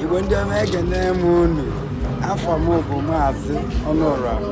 igwe ndị ọma ekene m unu afa m bụ maazị ọnụọra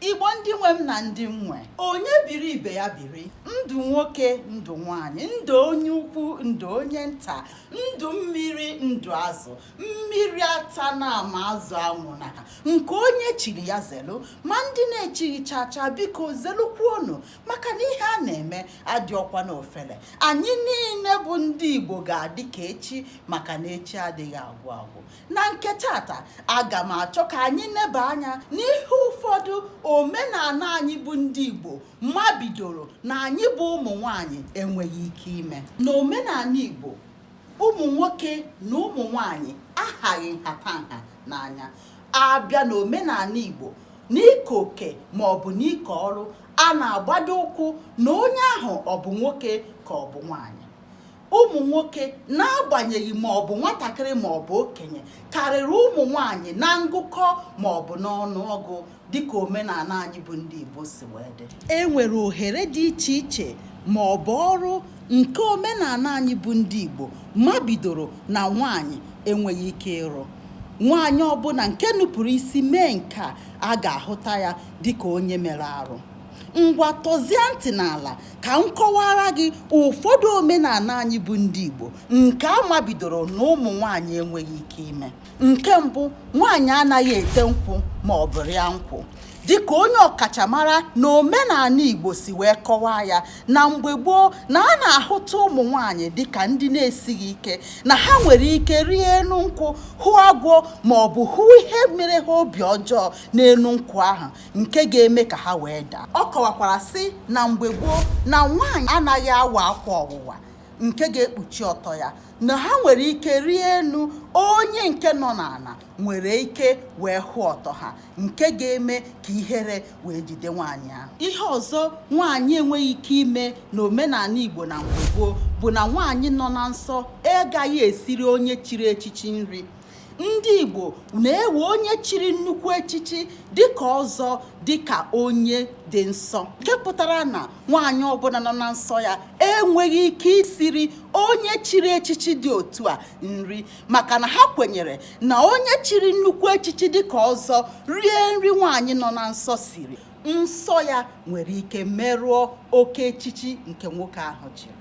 igbo ndị nwe m na ndị nwe onye biri ibe ya biri ndụ nwoke ndụ nwanyị ndụ onye ukwu ndụ onye nta ndụ mmiri ndụ azụ mmiri atana ma azụ anwụna nke onye chiri ya zelu ma ndị na-echighị chacha biko zelukwuonu maka na ihe a na-eme adịọkwa n'ofele anyị niile bụ ndị igbo ga-adị ka echi maka na echi adịghị agwụ agwụ na nke taata aga m achọ ka anyị neba anya n'ihe ụfọdụ omenala anyị bụ ndị Igbo mabidoro na anyị bụ ụmụ nwanyị enweghị ike ime na omenala Igbo ụmụ nwoke na ụmụ nwanyị ahaghị nhatanha n'anya a bịa na omenala Igbo n'ike oke ma ọ bụ n'ike ọrụ a na-agbado ụkwụ na onye ahụ ọ bụ nwoke ka ọ bụ nwanyị ụmụ nwoke n'agbanyeghị ma ọ bụ nwatakịrị ma ọ bụ okenye karịrị ụmụ nwanyị na ngụkọ ma ọ bụ n'ọnụ ọgụ dịka omenala anyị bụ ndị Igbo si wee dị e nwere ohere dị iche iche ma ọ bụ ọrụ nke omenala anyị bụ ndị Igbo mabidoro na nwanyị enweghị ike ịrụ nwaanyị ọbụla nke nupụrụ isi mee nke a a ga-ahụta ya dịka onye mere arụ Ngwa tọzie ntị n'ala ka m kọwaara gị ụfọdụ omenala anyị bụ ndị Igbo nke a mabidoro na ụmụ nwaanyị enweghị ike ime. Nke mbụ, nwaanyị anaghị ete nkwụ ma ọ bụ rịa nkwụ. dịka onye ọkachamara na omenala Igbo si wee kọwaa ya na mgbe gboo na a na-ahụta ụmụ nwaanyị dịka ndị na-esighị ike na ha nwere ike rịa enu nkwụ hụ agwọ ma ọ bụ hụ ihe mere ha obi ọjọọ n'enu nkwụ ahụ nke ga-eme ka ha wee daa ọ kọwakwara sị na mgbe gboo na nwaanyị anaghị awa akwa ọwụwa nke ga-ekpuchi ọtọ ya na ha nwere ike rịa enu onye nke nọ n'ala nwere ike wee hụ ọtọ ha nke ga-eme ka ihere wee jide nwaanyị ahụ ihe ọzọ nwaanyị enweghị ike ime na omenala Igbo na mgbe gboo bụ na nwaanyị nọ na nsọ agaghị esiri onye chiri echichi nri ndị Igbo na-ewe onye chiri nnukwu echichi dịka ọzọ dịka onye dị nsọ nke pụtara na nwaanyị ọbụla nọ na nsọ ya enweghị ike isiri onye chiri echichi dị otu a nri maka na ha kwenyere na onye chiri nnukwu echichi dịka ọzọ rie nri nwaanyị nọ na nsọ siri nsọ ya nwere ike merụọ oke echichi nke nwoke ahụ chiri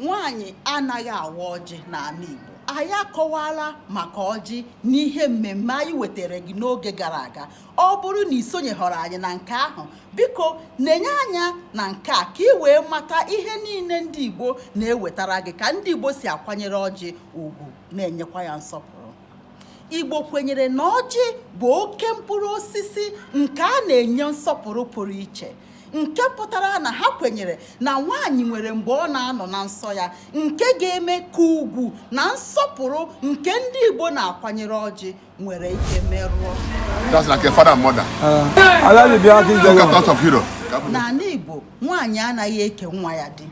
nwaanyị anaghị awa ọjị n'ana Igbo anyị akọwala maka ọjị n'ihe mmemme anyị wetara gị n'oge gara aga ọ bụrụ na isonyehọrọ anyị na nke ahụ biko nenye anya na nke a ka ị wee mata ihe niile ndị Igbo na-ewetara gị ka ndị Igbo si akwanyere ọjị ugwu na-enyekwa ya nsọpụrụ Igbo kwenyere na ọjị bụ oke mkpụrụ osisi nke a na-enye nsọpụrụ pụrụ iche nke pụtara na ha kwenyere na nwaanyị nwere mgbe ọ na-anọ na nsọ ya nke ga-eme ka ugwu na nsọpụrụ nke ndị Igbo na-akwanyere ọjị nwere ike merụọ n'anị Igbo nwaanyị anaghị eke nwa ya di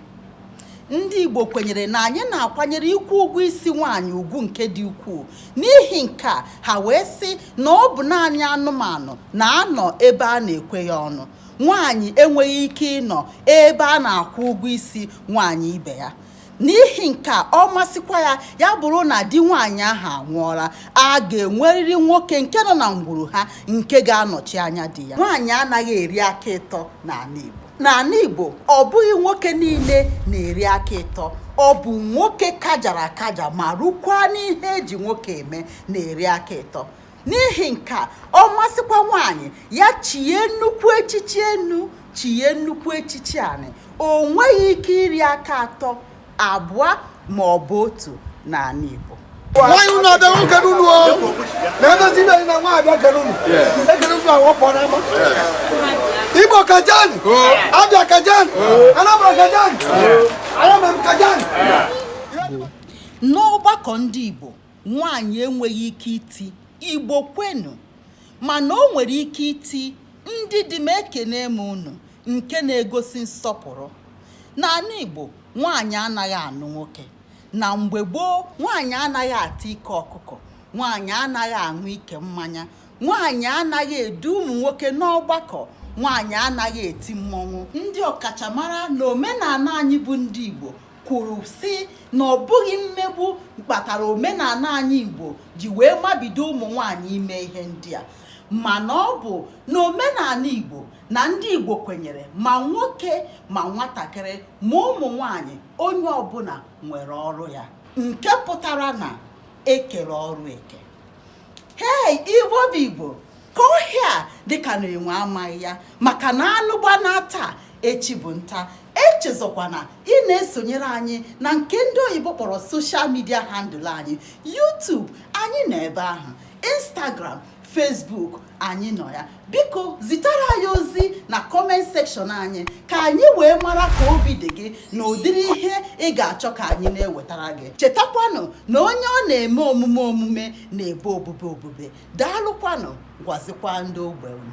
Ndị Igbo kwenyere na anyị na-akwanyere ịkwụ ụgwọ isi nwaanyị ugwu nke dị ukwuu. N'ihi nke a, ha wee sị na ọ bụ naanị anụmanụ na-anọ ebe a na-ekwe ya ọnụ. Nwaanyị enweghị ike ịnọ ebe a na-akwụ ụgwọ isi nwaanyị ibe ya. N'ihi nke a, ọ masịkwa ya ya bụrụ na di nwaanyị ahụ anwụọla, a ga-enwerịrị nwoke nke nọ na ngwuru ha nke ga-anọchi anya di ya. Nwaanyị anaghị eri aka ịtọ n'anị Igbo. n'anị Igbo ọ bụghị nwoke niile na-eri aka ịtọ ọ bụ nwoke kajara akaja ma rukwa n'ihe eji nwoke eme na-eri aka ịtọ n'ihi nke a ọ masịkwa nwaanyị ya chie nnukwu echichi enu chie nnukwu echichi anị o nweghị ike iri aka atọ abụọ ma ọ bụ otu n'anị Igbo nwaanyị unu abịa nwoke n'unu o na-edozi ibe na nwaanyị abịa kere unu ekere unu ahụ pụọ n'ama Igbo kajan Abia kajan Anambra kajan ayamem kajan n'ọgbakọ ndị Igbo nwaanyị enweghị ike iti Igbo kwenu mana o nwere ike iti ndị di m ekene m unu nke na-egosi nsọpụrụ. N'anị Igbo, nwaanyị anaghị anụ nwoke. Na mgbe gboo, nwaanyị anaghị ata ike ọkụkọ, nwaanyị anaghị aṅụ ike mmanya, nwaanyị anaghị edu ụmụ nwoke n'ọgbakọ, nwaanyị anaghị eti mmọnwụ. Ndị ọkachamara n'omenana anyị bụ ndị Igbo kwuru sị na ọ bụghị mmegbu kpatara omenana anyị Igbo ji wee mabido ụmụ nwaanyị ime ihe ndị a mana ọ bụ na omenanị Igbo na ndị Igbo kwenyere ma nwoke ma nwatakịrị ma ụmụ nwanyị onye ọbụna nwere ọrụ ya nke pụtara na ekere ọrụ eke hei Igbo bụ Igbo ka ọhịa dịka na enwe amaghị ya maka na anụ gbana taa echi bụ nta echezọkwana ịna-esonyere anyị na nke ndị oyibo kpọrọ social media handle anyị YouTube anyị nọ ebe ahụ Instagram Facebook anyị nọ ya biko zitara anyị ozi na kọment sekshọn anyị ka anyị wee mara ka obi dị gị na ụdịrị ihe ị ga-achọ ka anyị na-ewetara gị chetakwanụ na onye ọ na-eme omume omume na-ebe obube obube daalụkwanụ gwazikwa ndị ogbe unu